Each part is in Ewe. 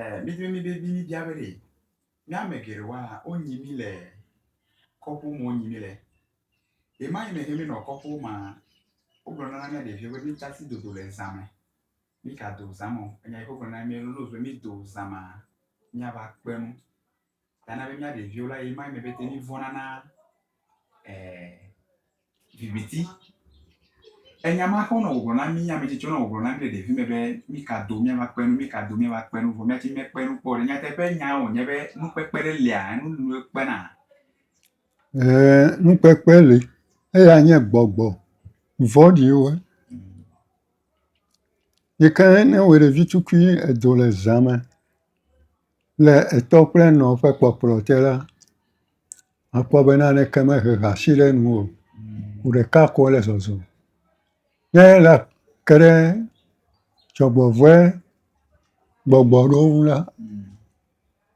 Ɛɛ, mídre mí vevi míbia be ɖe mía ame geɖewoa, wonyi mí le kɔƒewo me wonyi mí le. Ɣemaɣi me he míenɔ kɔƒewo mea, wogblɔna na mía ɖeviwo be míta asi dodo le zã me. Mígado zã me o. Enya yi ke wogblɔna na mí be lolo be mído zã mea, míava kpe nu. Ta na be mía ɖeviwo la, ye ma eme bete mí vɔna na viviti. Enya ma xɔ nɔ wògblɔ na mí ame tsitsi nɔ wògblɔ na mí le ɖevi me be mí ka do mía va kpe nu, mí ka do mía va kpe nu, vɔ mía tsi mekpe nu kpɔ ɖe. Nyateƒe nya wònye be nukpekpe ɖe lia, enu nu ekpena. Ee, nukpekpe li. Eya nye gbɔgbɔ vɔɖiwo. Yi ke ne wò ɖevi tukui edo le zã me. Le etɔ kple enɔ ƒe kpɔkplɔ te la, akpɔ be naneke mehe hasi ɖe enu o. Ŋu ɖeka ko wole zɔzɔm. Ne la ke ɖe dzɔgbevɔ̃e gbɔgbɔ ɖewo ŋu la,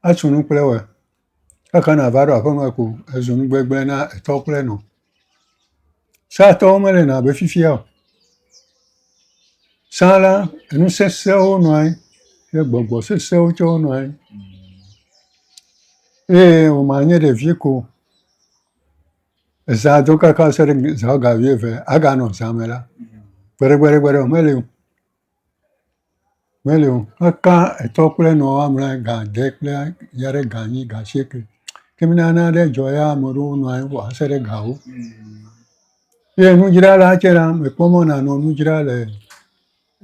esu nu kple woe. Ke hena va ɖo aƒeme ko ezu nu gbegblẽ na etɔ kple enɔ. Sratɔwo mele nɔ abe fifia o. Sã la, nu sesẽwo nɔ anyi ye gbɔgbɔ sesẽwo tsɛ wonɔ anyi eye wòme anye ɖevi ko o. Ezã do kaka se ɖe zã woame eve, aganɔ zã me la, gbeɖegbeɖegbeɖe meli o. Meli o, meka etɔ kple enɔ woa me gã ade kple ya ɖe gã enyi, gã asieke. Ke mina ne nane dzɔ ya ame aɖewo nɔ anyi va se ɖe gawo. Ye nudzrala tsɛ la, mekpɔ mɔ nanɔ nu dzra le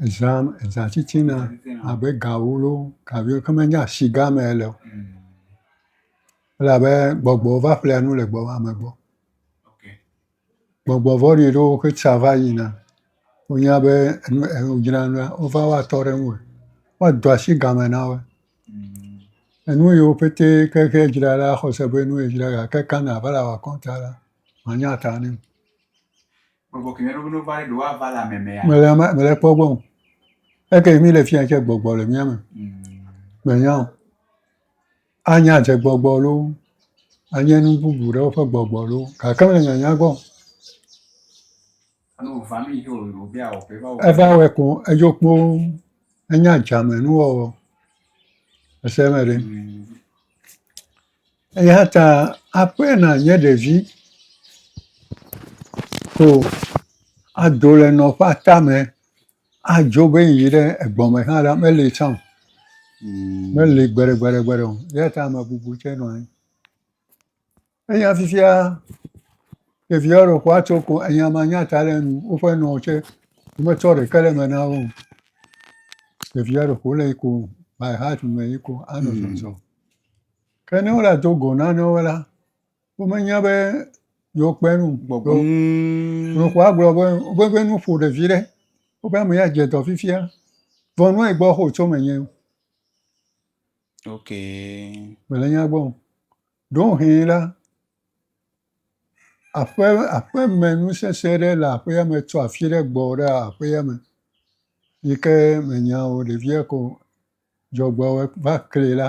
eza me, eza titina abe gawo loo, gaɖewo ke menye asigã me ele o. Elabe gbɔgbɔ va ƒlea nu le gbɔ ame gbɔ. Gbɔgbɔ vɔ̃ɖi ɖewo ƒe tsa va yina. Wonya be nu e wodzra nua wova woatɔ ɖe eŋu. Woado asi game na wo. Enu yiwo pɛte ke xe dzra la axɔ se be nue dzra gake ekana ne ava le wɔ akɔnta la manya ta nɛ o. Gbɔgbɔ ke me ɖo be ne wova ɖe ɖewo ava le ame mea? Mele eme mele ekpɔ gbɔ o. Eke mi le fiya tse gbɔgbɔ le mia me. Menya o. Anye adzegbɔgbɔ loo, anye nu bubu ɖewo ƒe gbɔgbɔ loo, gake mele nyanya gbɔ o. Eva wɔe koŋ, edzo kpoo, enye adzamenuwɔwɔ, ese eme ɖe? Eya ta aƒe nànye ɖevi ko ado le nɔƒe atame Adzɔ be yiyi ɖe egbɔ me hã la, meli tsã o. Meli gbeɖegbeɖegbeɖe o. Eya ta ame bubu tsɛ nɔ anyi. Eya fifia ɖevi aɖewo ƒe woatso ko enya manya ta ɖe enu o. Woƒe nɔwo tsɛ, wometsɔ ɖeke ɖe eme na wo o. Ɖevi aɖe ƒo wole yi ko by heart me yi ko anɔ zɔzɔm. Ke ne wole ado go nanewo la. womenya be yewo kpe nu gbɔgbɔ nukua gblɔ be wobe be nu ƒo ɖevi ɖe wobe ame ya dze dɔ fifia vɔ nua yi gbɔ xo tso me nye ok mele nya gbɔ ɖo hɛ la aƒe aƒe me nu sese ɖe le aƒea me tso afi ɖe gbɔ ɖe aƒea me yi ke menya o ɖevia ko dzɔgbɔ va kli la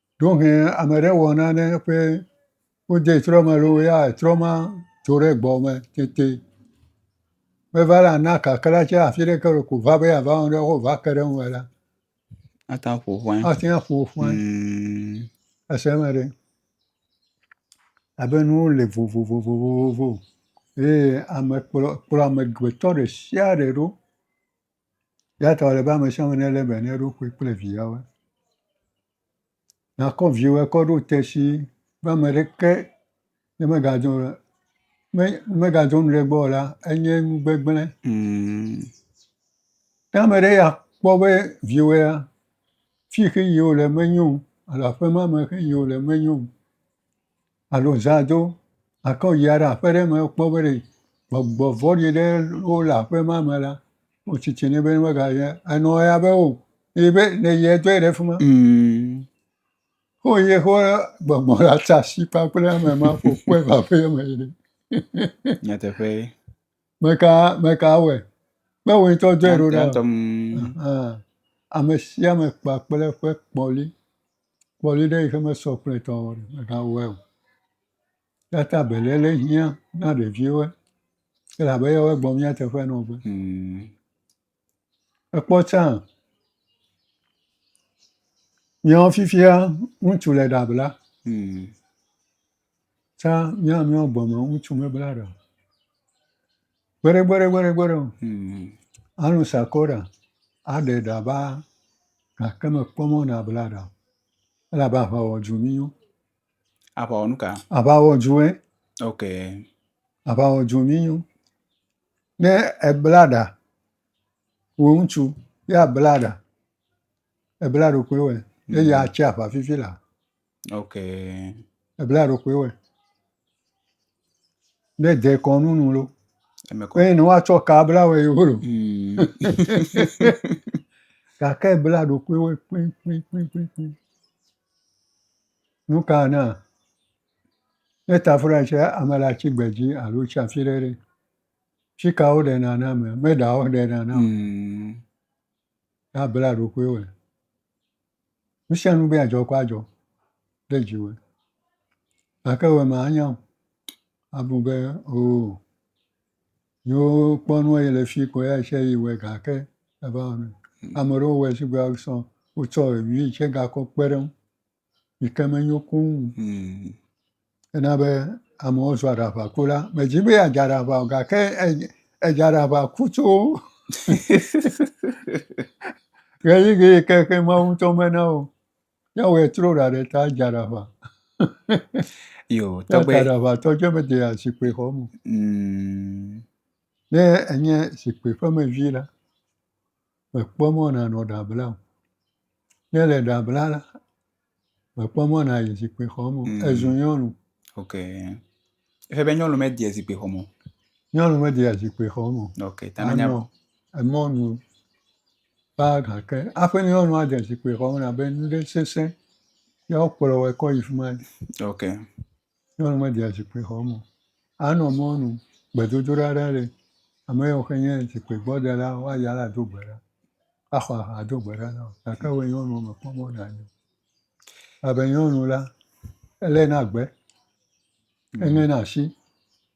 Ɖewohĩ ame ɖe wɔ nane ƒe wode trɔ me loo ya trɔ ma tso ɖe gbɔ me tete. Meva la na kakla tse afi ɖe ke wole ko va be yeava wɔ nane va ke ɖe eŋu me la, Ate ŋu aƒo ƒuan. ate ŋu aƒo ƒuan. Mm. Ese eme ɖe. Abe nuwo le vovovovovo eye ame kplɔ kplɔ amegbetɔ ɖe sia ɖe ɖo Eya ta wòle be ame sia ame nelé be ne eɖokui kple viawoe. Nakɔ viwòe kɔ ɖo te shii be ame ɖeke ne megadɔ o la, ne megadɔ nu ɖe egbɔ o la, enye nu gbegblẽ. Ne ame ɖe ya kpɔ be viwòea, fi ke yi wòle menyo o alo aƒe ma me ke yi wòle menyo o alo zã do gake woyia ɖe aƒe ɖe me kpɔ be ɖe gbɔgbɔ vɔ̃ɖi ɖe wo le aƒe ma me la, wotsi tsi nɛ be ne mega yi ɖe enɔ ya be o yi be ne yi edɔe ɖe fi ma. Mm. Wo yi xɔ gbɔgbɔ la tsa si kpakple ame ma ƒo kpɔe va ƒe me yi ɖe. Nyateƒe. Meka meka awɔe. Kpe wo ŋutɔ dɔe ɖo ɖa. Ame sia ame kpakple ƒe kpɔli. Kpɔɖi ɖe yike mesɔ kple tɔ o megawɔe o. Eya ta beléle hiã na ɖeviwo elabe eyawo gbɔ mía teƒe nɔ be. Mm. Ekpɔ tsã míawo fifia ŋutsu le ɖa bla. Mm. Tsã míawo míawo gbe me ŋutsu mebla ɖa o. Gbeɖegbeɖegbeɖegbeɖe o. Mm. Anu sakɔ ɖa, aɖe ɖa ba gake mekpɔ mɔ nabla ɖa o. Elabe aʋa wɔ dzu mí yɔ. Aʋa wɔ nu ka? Aʋa wɔ dzu ɛ. Ok. Aʋa wɔ dzu mí yɔ. Ne ebla ɖa, wò ŋutsu ya bla ɖa, ebla ɖokuiwɛ eye atsi aʋa fifi la, Ok. Ebla ɖokui wɛ. Ne de kɔnu nu lo. Eme kɔ. Eye ne woatsɔ ka bla wɛ yewo lo. Mm. Gake ebla ɖokui wɛ kpikpikpikpikpi. Nu ka na? Ne tafura tse ame le atsi gbe dzi alo tsi afi ɖe ɖe. Fi ka woɖe nana me? Meɖa woɖe nana o. Mm. Abla ɖokui wɛ. Nu sia nu be yeadzɔ kɔ adzɔ ɖe dzi me gake wo ame anya o. Abu be oo yewo kpɔ nu eye le fi koe eya tse yi wɔe gake eva wɔ nui. Ame aɖewo wɔe shigbe ale sɔ wotsɔ evi tse gakɔ kpe ɖe eŋu yi ke menyo kũu o. Ena be amewo zu aɖaʋakula. Medzi be yeadze aɖaʋa o gake edze edze aɖaʋaku tso ɣeyiɣi yi ke xe Mawu ŋutɔ mena o. Míawɔe trɔ ɖa ɖe ta adze aɖaʋa. Yo, Eya ta tɔgbe. aɖaʋatɔ dze medea zikpui xɔ me o. Mm, Ne enye zikpui ƒe mevi la, mèkpɔ mɔ nànɔ ɖa blam o. Ne èle ɖa blam la, Mekpɔ mɔ nàyi zikpuixɔ me o. Mm. Ezu nyɔnu. Ok. Eƒe be nyɔnu medea zikpuixɔ me o. Nyɔnu medea zikpuixɔ me o. Ok. Ta menya Anɔ emɔnu kpaa gake aƒe nyɔnu ade zikpuixɔ me abe nu ɖe sesẽ ye wokplɔ wɔe kɔ yi fi ma. Ok. Nyɔnu media zikpui xɔ me o. Anɔ mɔnu, gbedodoɖa ɖe li. Ame yawo xe nye zikpuigbɔdela woayi ɖa ado gbe ɖa, axɔ aha ado gbe ɖa na wò gake wò nyɔnu mèkpɔ mɔ nàyi o. Elabe nyɔnu la, eléna gbe, eŋena asi.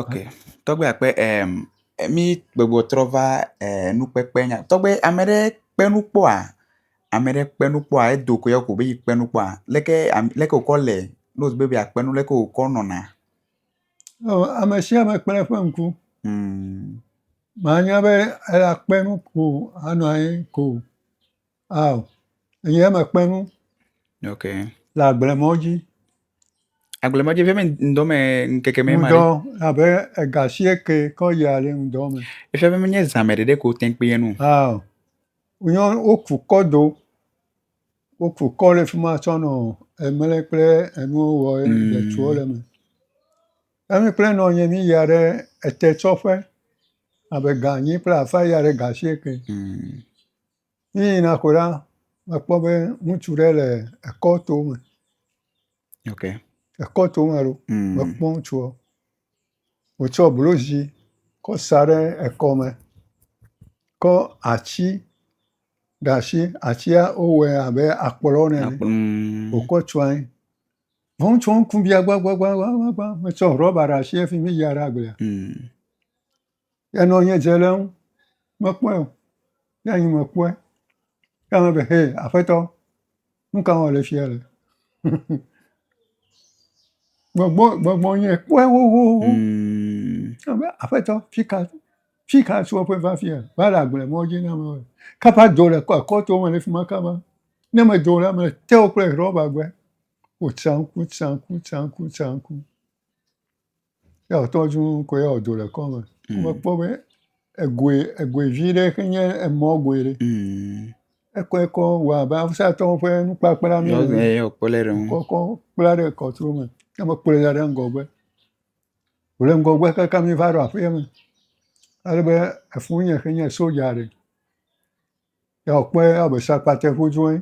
Ok, tɔgbe akpe em mi gbɔgbɔ trɔ va e nukpekpe nya tɔgbe ame ɖe kpe nu kpɔa? Ame ɖe kpe nu kpɔa edo koe ya ko be yekpe nu kpɔa leke am leke wokɔ le ne wodi be yeakpe nu leke wokɔ nɔna? Ɔ ame sia ame kple eƒe ŋku. Hmm. Manya be eya kpe nu ko anɔ anyi ko. Ao enye eme kpe nu. Ok. Le agble mɔ dzi. Agble mɔ dzi fia be ŋdɔ me ŋkeke me ma. Ŋdɔ abe ega si eke kɔ yi ale ŋdɔ me. Efia be menye zã me ɖeɖe ko wote ŋu kpea nu. Ao nyɔ woku kɔ do. Woku kɔ ɖe fi ma tsɔ nɔ emle kple enuwo wɔ ye mm. etuwo le eme. Emi kple nɔ nye mi ya ɖe ete tsɔƒe abe ganyi kple afa ya ɖe gasi eke. Mm. Míeyina ƒo la, mekpɔ be ŋutsu ɖe le ekɔ to me. Ok. Ekɔ to me ɖo. Mm. Mekpɔ ŋutsuɔ. Wotsɔ blozi kɔ sa ɖe ekɔme. Kɔ atsi ɖe ashi. Atsia wowɔe abe akplɔ nɛ. Akplɔ. Mm. Wokɔ tsɔ anyi. Vɔ ŋutsuɔ ŋku bia gbagbagbagbagba. Metsɔ rɔba ɖe ashi efi mi ya ɖe agblea. Mm. Enɔ nye dze le eŋu, mekpɔe o, ne anyi mekpɔe, ye ame be, hee aƒetɔ, nu ka wɔm le fiya le? gbɔgbɔ gbɔgbɔ nye kpɔe xoxoxo, mm. ye be aƒetɔ fi ka fi ka tso eƒe va fiya va le agble mɔ dzi na ame be kaba do le kɔto me le fi ma kaba ne medo la me te wo kple rɔba gbe wotsanku tsanku tsanku tsanku. Ye wòtɔ zu ŋkɔe ya wòdo le kɔme. Mm. Mekpɔ be egoe egoe vi ɖe xe nye emɔ goe ɖe. Mm. Ekɔ ekɔ wɔ abe awusatɔwo ƒe nukpakpla mi. Yɔ eye yɔ kpɔ le ɖe ŋu. Kɔkɔ kpla ɖe kɔtro me. Ke me kplɔe da ɖe ŋgɔgbe. Wòle ŋgɔgbe kaka mi va ɖo aƒea me. Ale be efu nye xe nye soja ɖe. Ya wò kpɔe ya wò be sakpate ƒu dzoe.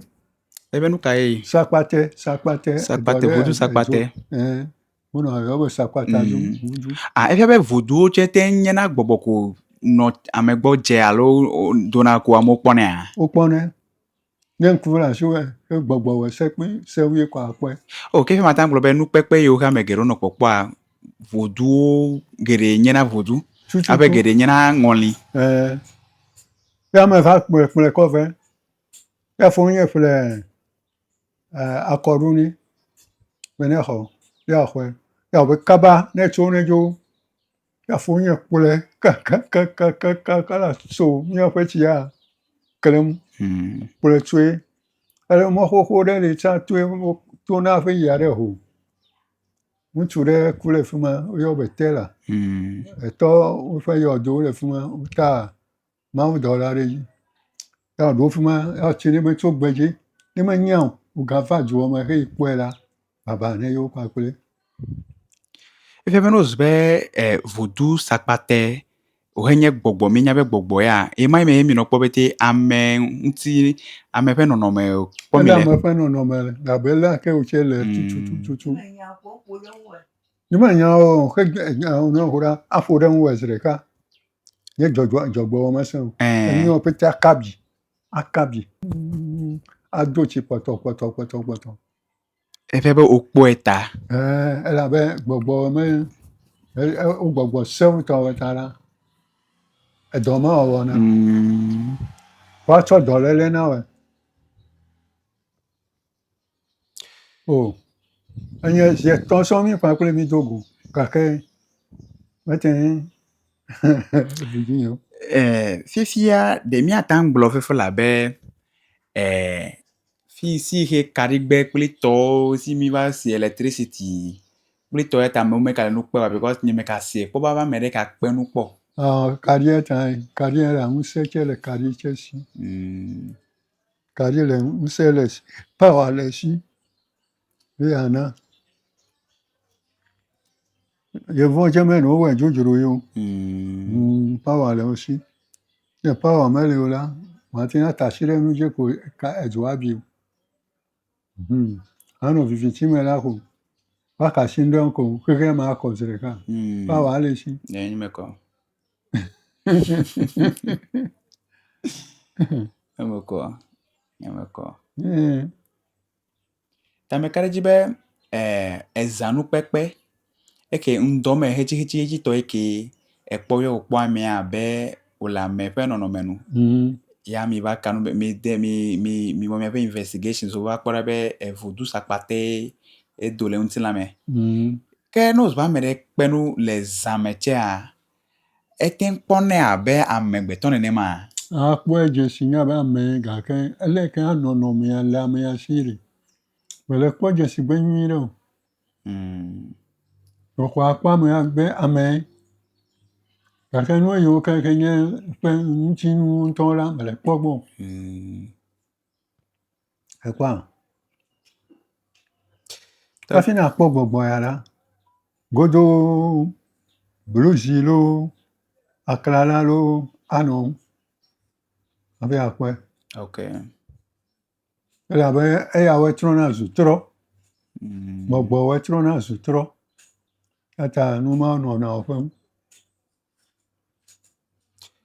Ebe nu ka ye yi? Sakpate, sakpate. Sakpate, vodu sakpate. Ɛɛ, wonɔ yɔ be sakpate dzo. Mm. Ah, efia be voduwo tse te nyena gbɔgbɔ ko nɔ ame gbɔ dze alo dona ko amewo kpɔnɛa? Wokpɔnɛ. Ne ŋku le asi wɔ gbɔgbɔ wɔ se kpi se wui kɔ akpɔe. O, ke fi ma ta gblɔ be nukpekpe yiwo ke ame geɖewo nɔ kpɔkpɔa, voduwo geɖe nyena vodu. Tututu. Abe geɖe nyena ŋɔli. Ɛɛ. Ke ame va kplɔe kplɔe kɔ vɛ. Ke fɔu ye ƒle akɔɖu ni be ne xɔ ye axɔe. Ye wɔ be kaba ne etso ne dzo ye fɔu ye kplɔe kakakakaka la so miaƒe tsia klem kplɔe tsoe. Ele mɔ xoxo ɖe li tsa toe wo tona hafi yia ɖe ho. Ŋutsu ɖe ku ɖe fi ma woyɔ be Tela etɔ woƒe yɔdo le fi ma wota mawudɔla ɖe dzi. Ya wòɖo fi ma ati ɖe me tso gbe dzi. Ne menya o, wògava dua me heyi kpɔe la, baba ne yewo kpakple. Efia be ne wòzu be e, vodu sakpate wòhe nye gbɔgbɔ, míenya be gbɔgbɔ ya, ye ma me ye minɔ kpɔ bete ame ŋuti, ame ƒe nɔnɔme kpɔ mi le. Ame ƒe nɔnɔme le, abe lé ake wòtse le hmm. tututututu. Ne menya o, xe nya ƒo ɖa, aƒo ɖe ŋu zi ɖeka. Nye dzɔdzɔ dzɔgbewɔ mesẽ o. Enuwo pete aka bi aka bi ado tsi kpɔtɔ kpɔtɔ kpɔtɔ kpɔtɔ. Eƒe be wokpɔe ta. Elabe gbɔgbɔ me wogbɔgbɔ sewo tɔ wɔ ta la edɔ ma wɔwɔ na. Mm. Woatsɔ dɔléle na wɔ. O, enye zi etɔ̃ sɔ mí ƒã kple mí do go gake mete ŋu ɖu dzi o. E, fifia ɖe míate ŋu gblɔ fifi la be e, fi si xe kaɖigbɛ kple tɔwo si mi va si elektrisiti kple tɔ ya ta amewo meka nu kpe wa because nye meka se kpɔ be ame ɖe ka kpe nu kpɔ. Ɔ, kaɖia ta kaɖia la ŋusẽ tse le kaɖi tse si. Mm. Kaɖi le ŋusẽ le esi, pawa le esi ye yeana. Yevua tsɛ mele wowɔe dzodzro ye o. Humm, pawa le wo si. Ne pawa meli o la, woate ŋu ate asi ɖe nu dzi ko ka edzo abi o. Hmm. Anɔ viviti me la ko. Waka si ŋɖe ŋkɔ xexe ma kɔ zi ɖeka. Hmm. Ba wa le si. Ne nyi me kɔ. Eme kɔ. Eme kɔ. Tameka ɖe dzi be eh, ezanukpekpe Eke ŋdɔ me hetihetihetitɔ eke ekpɔ yɔ wòkpɔ amea abe wòle ame ƒe nɔnɔme nu. Mm. Ya mi va kanu be mi de mi mi mi wɔ miaƒe investigations wo va kpɔ ɖa be evodu sakpate edo le ŋutilã me. Mm. Ke ne wòzɔ ame ɖe kpe nu le zã me tsea, ete ŋu kpɔnɛ abe amegbetɔ nenema. Akpɔe dze si nya be ame gake ele ke anɔnɔmea le amea si ɖe mele kpɔ dzesi gbe nyuie ɖe o. Exɔ akpa me agbe amɛ gake nu yiwo ke xe nye eƒe ŋutinu ŋutɔ la mele kpɔ gbɔ o. Ekpɔa? Hafi nakpɔ gbɔgbɔ ya la, godoo bluzi loo, aklala loo anɔ ŋu hafi akpɔɛ. Elabe eyawoe trɔna zu trɔ. Gbɔgbɔwoe trɔna zu trɔ. Eya ta nu mawo nɔna wò ƒem.